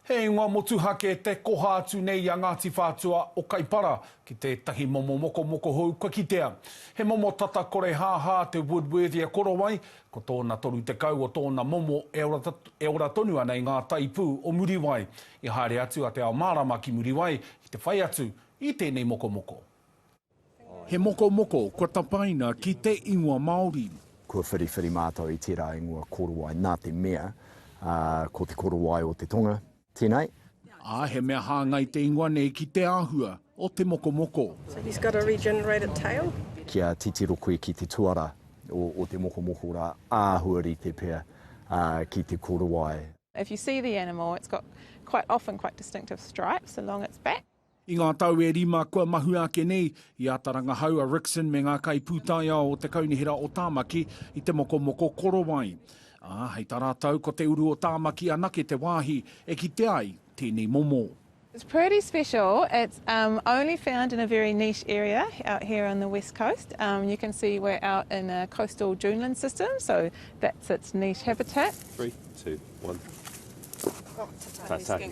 He ingoa motuhake te koha atu nei a Ngāti Whātua o Kaipara ki tētahi momo mokomoko hou kua kitea. He momo tata korehāhā te Woodworthia korowai, ko tōna 30 o tōna momo e ora tonu ana i ngā taipū o Muriwai. I haere atu a Te Ao Mārama ki Muriwai ki te whai atu i tēnei mokomoko. He mokomoko kua tapaina ki te ingoa Māori. Kua whiriwhiri mātou i tērā ingoa korowai nā te mea ko te korowai o te tonga tēnei. Ā, he mea hāngai te ingoa nei ki te āhua o te mokomoko. So he's got a regenerated tail? Kia titiro koe ki te tuara o te mokomoko rā, āhua rite pea ki te korowai. If you see the animal, it's got quite often quite distinctive stripes along its back. I ngā tau e rima kua mahue ake nei, i āta rangahau a Rickson me ngā kaipūtaiao o te Kaunihera o Tāmaki i te mokomoko korowai. Ā, hei tā rātou ko te uru o Tāmaki anake te wāhi e kite ai tēnei momo. It's pretty special, it's um only found in a very niche area out here on the west coast. Um you can see we're out in a coastal duneland system, so that's its niche habitat. Three, two, one. Oh, tatau. Tatau.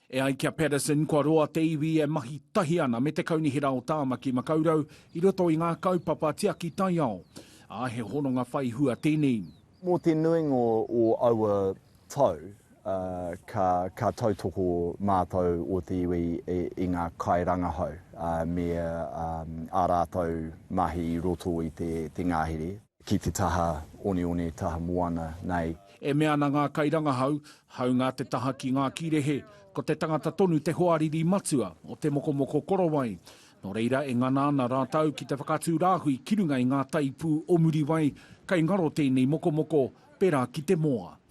E ai ki a Paterson, kua roa te iwi e mahi tahi ana me te Kaunihera o Tāmaki Makaurau i roto i ngā kaupapa tiaki taiao, ā, he hononga whai hua tēnei. Mō te nuinga o aua tau, ka tautoko mātou o te iwi i ngā kairangahau me ā rātou mahi i roto i te ngahere. Ki te taha oneone, taha moana nei. E mea ana ngā kairangahau, hāunga te taha ki ngā kīrehe, ko te tangata tonu te hoariri matua o te mokomoko korowai. Nō reira e ngana ana rātou ki te whakatū rāhui ki runga i ngā taipū o Muriwai, kei ngaro tēnei mokomoko, pērā ki te moa.